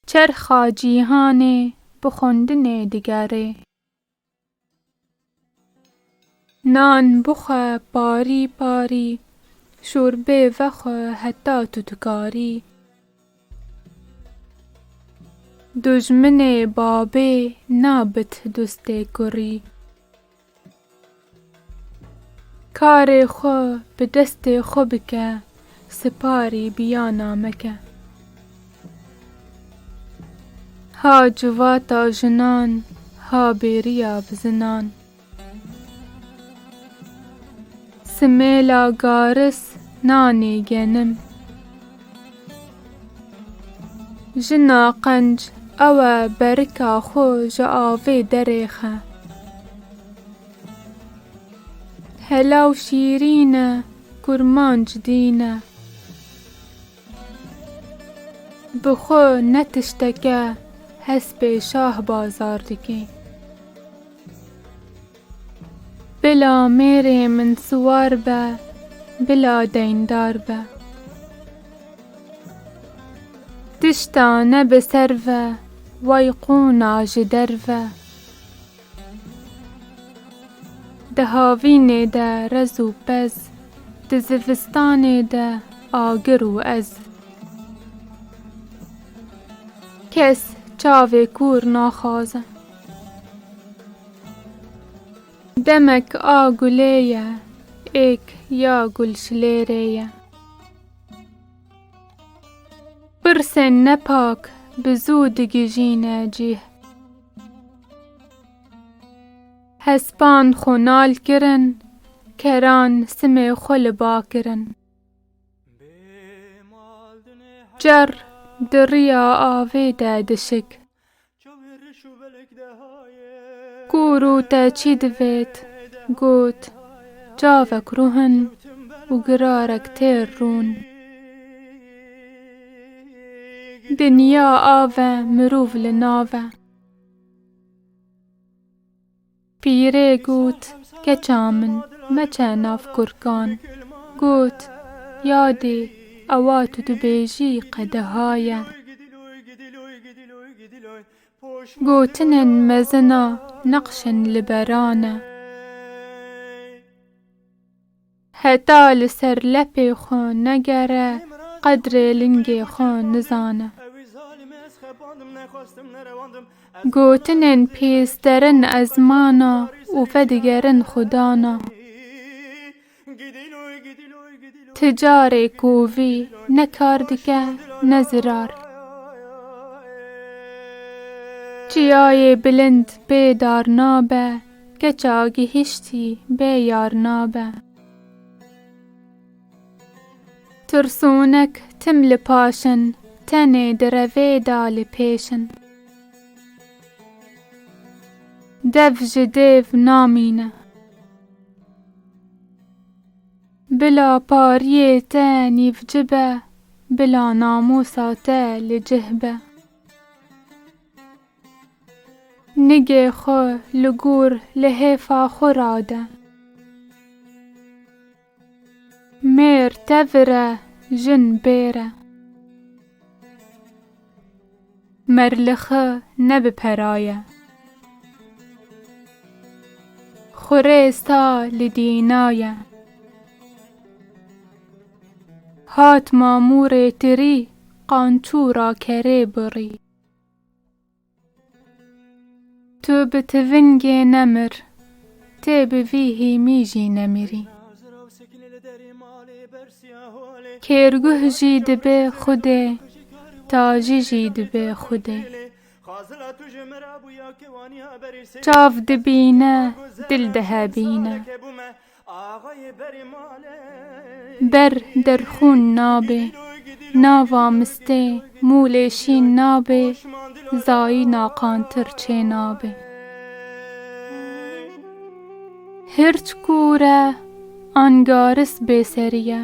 Çerxa cîhanê bi xwendinê digerê. Nan bixwe parî parî, şorbê vexwe heta tu dikarî. Dojminê babê nabit dostê kurî. Karê xwe bi destê xwe bike, siparî biyana meke. Ha civata jinan, ha bêriya bi zinan. Simêla garis nanê genim. Jina qenc ewe berika xwe ji avê derêxe. Hela û şîrîn e, kurmanc dîn e. Bi xwe ne tişteke hespê şahbazar dike. Bila mêrê min siwar be, bila deyndar be. Tişta ne bi ser ve, way qûna ji der ve. Di havînê de rez û pez, di zivistanê de agir û ez. Kes çavê kûr naxwaze. Demek a gulê ye, êk ya gulşilêrê ye. Pirsên nepak bi zû digijîne cîh. Hespan xwe nal kirin, keran simê xwe li ba kirin. Çerr di riya avê de dişik. Ku rû te çî divêt, got, Çavek ruhin û girarek têr rûn. Dinya ave mirov li nave. Pîrê got, Keça min, meçe nav kurkan. Got, Ya dê, ewa tu dibêjî qedeha ye. Gotinên mezin a neqşên li beran e. Heta li ser lepê xwe negere qedrê lingê xwe nizane. Gotinên pîs derin ezmana û vedigerin xwedana. Ti carê kovî ne kar dike ne zirar. Çiyayê bilind bê dar nabe Keça gihiştî bê yar nabe. Tirsonek tim li paş in. Tenê di revê de li pêş in. Dev ji dêv namîne. Bila pariyê te nîvci be. Bila namûsa te li cih be. Nigê xwe li gor lihêfa xwe rade. Mêr tevir e, jin bêr e. Merlixi ne bi peraye. Xurêz ta li dînaye. Hat mamûrê tirî qançûra kerê birî. Tu bi tivingê nemir, tê bi vî hîmî jî nemirî. Kêrguh jî dibe xwedê, tajî jî dibe xwedê. Çav dibîne, dil dihebîne. Ber der xûn nabê. Nava mistê mûlê şîn nabê, zayî naqantir çê nabê. Hirç kûr e, angaris bêserî ye.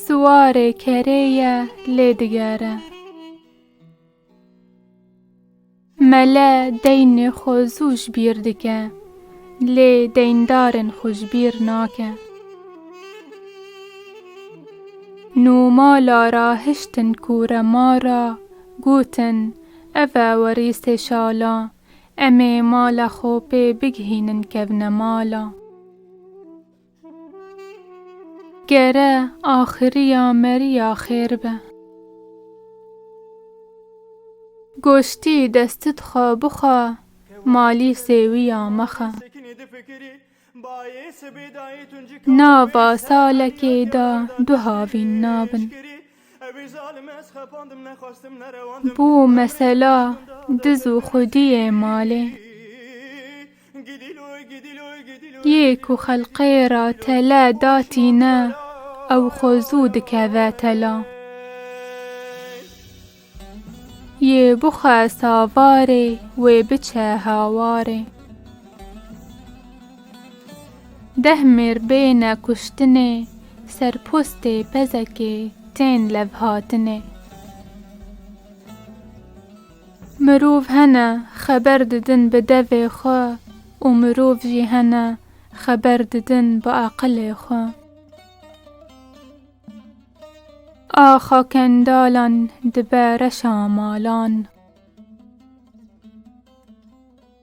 Siwarê kerê ye lê digere. Mele deynê xwe zû ji bîr dike, lê deyndarên xwe ji bîr nake. Nûmala ra hiştin kûremar ra, gotin, Ev e werîsê şala, em ê mala xwe pê bigihînin kevnemala. Gere axiriya meriya xêr be. Goştî destit xwe bixwe malî sêwiya mexe. Nava salekê de du havîn nabin. Bû mesela diz û xwediyê malê. Yê ku xelqê ra tele da tîne ew xwe zû dikeve tela. Yê bixwe savarê wê biçe hawarê. Deh mêr bêne kuştinê ser postê pezekê tên levhatinê. Mirov hene xeber didin bi devê xwe û mirov jî hene xeber didin bi aqilê xwe. Axa kendalan dibe reşa malan.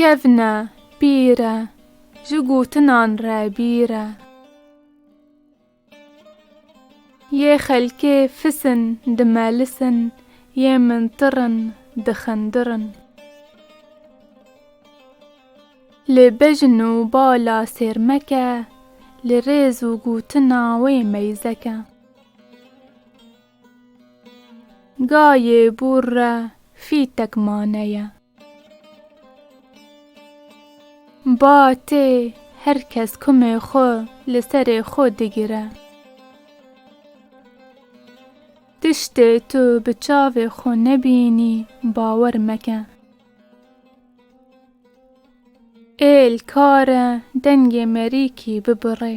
Kevne pîr e, ji gotinan re bîr e. Yê xelkê fis in, dimelis in, yê min tir in, dixindir in. Li bejn û bala sêrmeke, li rêz û gotina wê meyzeke. Gayê bûr re fîtek mane ye. Ba tê her kes kumê xwe li serê xwe digire. Tiştê tu bi çavê xwe nebînî bawer meke. Êl kare dengê merîkî bibirê.